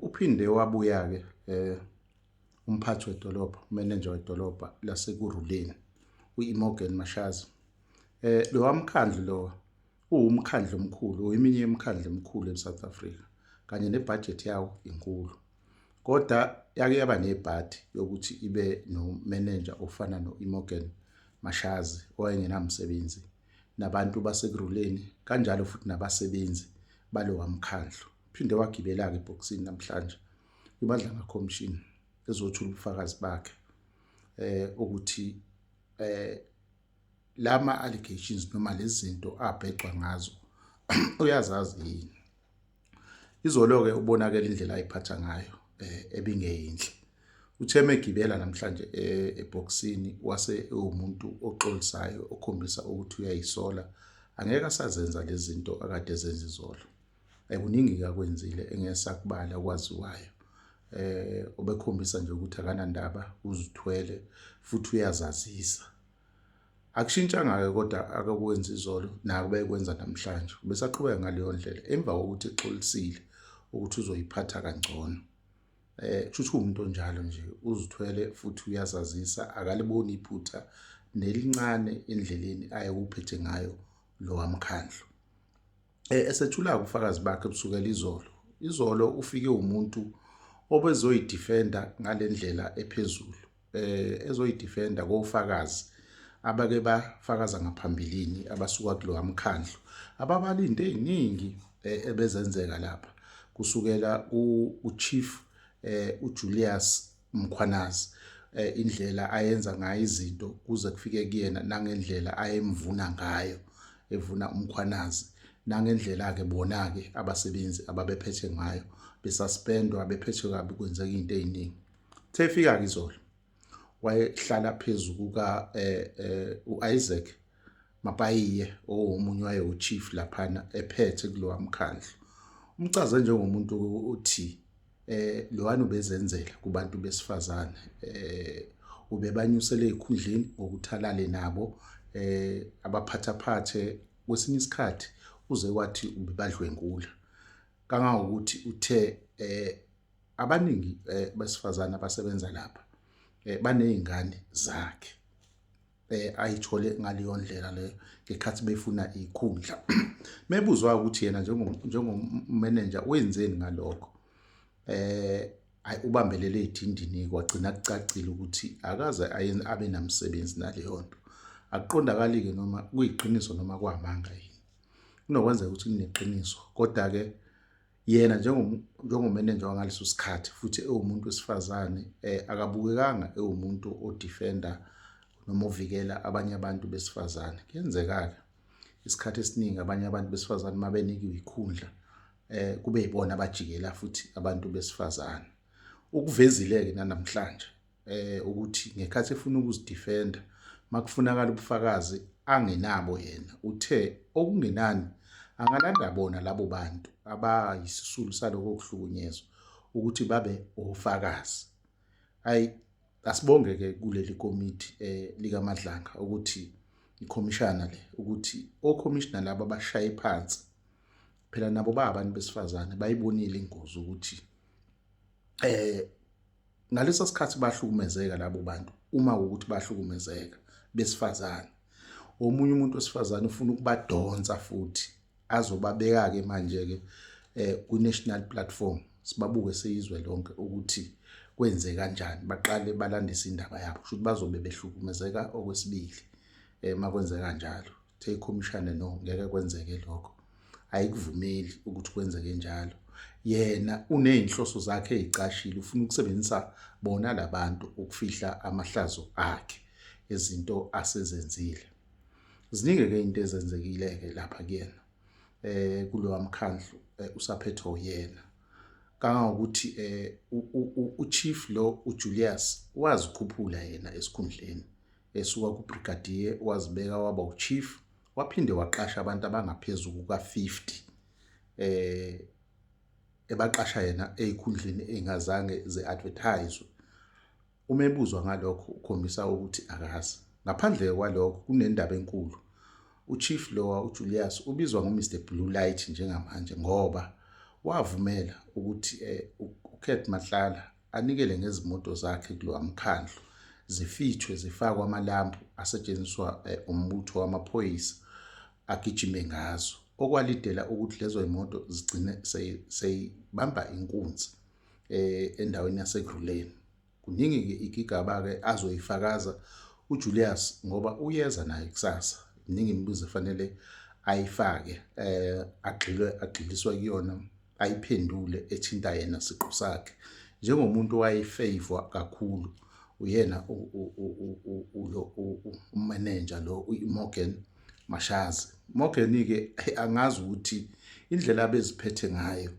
Uphinde wabuya-ke um umphathi wedolobha umenenja wedolobha lasekuruleni u-imogen mashazi um lowa mkhandlu lowa uwumkhandlu omkhulu uyiminye yemikhandlu emikhulu e-south africa kanye nebhajethi yawo inkulu kodwa yake yaba nebhadi yokuthi ibe nomenenja ofana no-imogen mashazi owayengenamsebenzi um nabantu basekuruleni kanjalo futhi nabasebenzi balowa mkhandlu phinde wagibela-ke ebhokisini namhlanje kwimadlanga commission ezothula ubufakazi bakhe eh ukuthi eh lama allegations noma lezi zinto abhecwa ngazo uyazazi yini Izolo-ke ubonakele indlela ayiphatha ngayo eh, ebingeyinhle. Ucheme egibela namhlanje eh, ebhokisini wase ewumuntu oxolisayo okhombisa ukuthi uyayisola. Angeke asazenza lezi zinto akade ezenza izolo. Kuningi-ke akwenzile engesakubala okwaziwayo. Eh, obekhombisa nje ukuthi akanandaba, uzithwele futhi uyazazisa. Akushintshanga-ke kodwa akakwenza izolo nakuba ekwenza namhlanje, ubesaqhubeka ngaleyo ndlela emva kokuthi exolisile ukuthi uzoyiphatha kangcono. Eh kushuthi kuumuntu onjalo nje uzithwele futhi uyazazisa akaliboni iphutha nelincane endleleni ayewuphethe ngayo lo wamkhandlu. Eh, esethula ubufakazi bakhe kusukela izolo izolo ufike umuntu obezoyidifenda ngale ndlela ephezulu eh ezoyidifenda kofakazi abake bafakaza ngaphambilini abasuka kulowa mkhandlu ababala into eziningi eh, ebezenzeka lapha kusukela ku chief eh uJulius Mkhwanazi eh, indlela ayenza ngayo izinto kuze kufike kuyena nangendlela ayemvuna ngayo evuna umkhwanazi nangendlela ke bona ke abasebenzi ababephethe ngayo besaspendwa bephethwe kabi kwenzeka into eziningi thefika ke izolo wayehlala phezulu kuka eh, eh, uIsaac Mapayiye owomunye waye uchief laphana ephethe kulowa mkhandlu umcaze njengomuntu othi eh lowani ubezenzela kubantu besifazane eh ubebanyusele ezikhundleni ngokuthalale nabo eh abaphathaphathe kwesinye isikhathi uze wathi ubebadlwengula kangangokuthi uthe eh abaningi eh, besifazane abasebenza lapha eh, banezingane zakhe eh ayithole ngaleyo ndlela leyo ngekhathi befuna ikhundla mebuzwa ukuthi yena njengo njengomanager wenzeni ngalokho eh ay ubambelele idindini kwagcina kucacile ukuthi akaze abe namsebenzi naleyo nto akuqondakali ke noma kuyiqiniso noma kwamanga yini kunokwenzeka ukuthi kuneqiniso kodwa ke yena njengomenenja wangaleso sikhathi futhi ewumuntu wesifazane eh, akabukekanga ewumuntu odefenda noma ovikela abanye abantu besifazane kuyenzeka-ke isikhathi esiningi abanye abantu besifazane uma benikiwe ikhundla eh kube yibona abajikela futhi abantu besifazane ukuvezile-ke nanamhlanje eh ukuthi ngekhathi efuna ukuzidefenda makufunakala ubufakazi angenabo yena uthe okungenani angalanda bona labo bantu abayisisulu saloko kuhlukunyezwa ukuthi babe ofakazi ay asibonge ke kuleli komiti eh likaMadlanga ukuthi ikhomishana le ukuthi okhomishana laba bashaye phansi phela nabo ba abantu besifazane bayibonile ingozi ukuthi eh Ngaleso sikhathi bahlukumezeka labo bantu uma ukuthi bahlukumezeka besifazane. Omunye umuntu wesifazane ufuna ukubadonsa futhi azobabeka-ke manje-ke eh, ku-national platform sibabuke seyizwe lonke ukuthi kwenze kanjani baqale balandise indaba yabo kusho ukuthi bazobe behlukumezeka okwesibili um eh, uma kwenzeka njalo take commissioner no ngeke kwenzeke lokho ayikuvumeli ukuthi kwenzeke njalo yena unezinhloso zakhe ezicashile ufuna ukusebenzisa bona labantu ukufihla amahlazo akhe ezinto asezenzile ziningi ke into ezenzekile ke lapha kuyena eh kulowa mkhandlu eh, usaphethe uyena kangangokuthi eh uchief lo uJulius wazikhuphula yena esikhundleni esuka kubrigadier wazibeka waba uchief Waphinde waqasha abantu abangaphezu kuka-50 eh ebaqasha yena ezikhundleni engazange ze-advertise. Uma ebuzwa ngalokho ukhombisa ukuthi akazi. Ngaphandle kwalokho kunendaba enkulu. UChief lowa uJulius ubizwa ngoMr Blue Light njengamanje ngoba wavumela ukuthi eh, uKurt Matlala anikele ngezimoto zakhe kulowa mkhandlu zifithwe zifakwe amalambu asetshenziswa eh, umbutho wamaphoyisa agijime ngazo okwalidela ukuthi lezo imoto zigcine seyibamba inkunzi eh, endaweni yaseGruleni kuningi ke igigaba ke azoyifakaza uJulius ngoba uyeza naye kusasa iningi imibuzo efanele ayifake eh agxilwe agxiliswa kuyona ayiphendule ethinta yena siqu sakhe njengomuntu owayefavor kakhulu uyena umanager lo uMorgan Mashazi Morgan ke angazi ukuthi indlela abeziphethe ngayo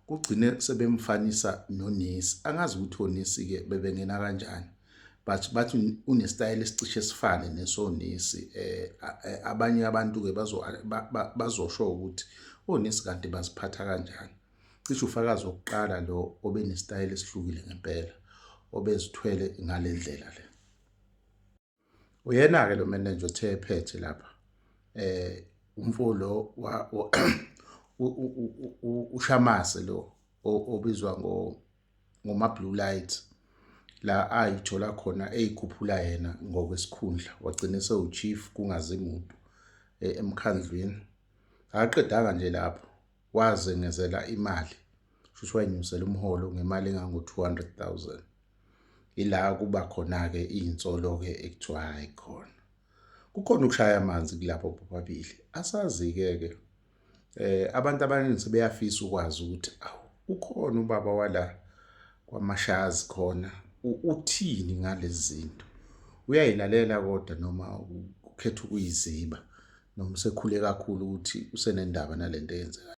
kugcine sebemfanisa nonesi angazi ukuthi onesi ke bebengena kanjani but bathi unesitayela esicishe sifane nesonesi eh, eh abanye abantu ke bazo bazosho ukuthi onesi oh, kanti baziphatha kanjani cishe ufakazi wokuqala lo obe nesitayela esihlukile ngempela obezithwele ngale ndlela le uyena ke lo manager othe ephethe lapha eh umfolo ushamase lo obizwa ngo ngoma blue lights la ayithola khona eyikhuphula yena ngokwesikhundla wagcina sewuchief kungazi muntu eh, emkhandlwini akaqedanga nje lapho wazengezela imali futhi wayinyusela umholo ngemali engango-200,000 ila kuba khona-ke iy'nsolo-ke ekuthiwa hhayi khona kukhona ukushaya amanzi kulapho bobabili asazi-ke-ke eh abantu abaningi sebeyafisa ukwazi ukuthi awu ukhona ubaba wala kwamashazi khona uthini ngalezi zinto uyayilalela kodwa noma ukhetha ukuyiziba noma usekhule kakhulu ukuthi usenendaba nalento eyenzekayo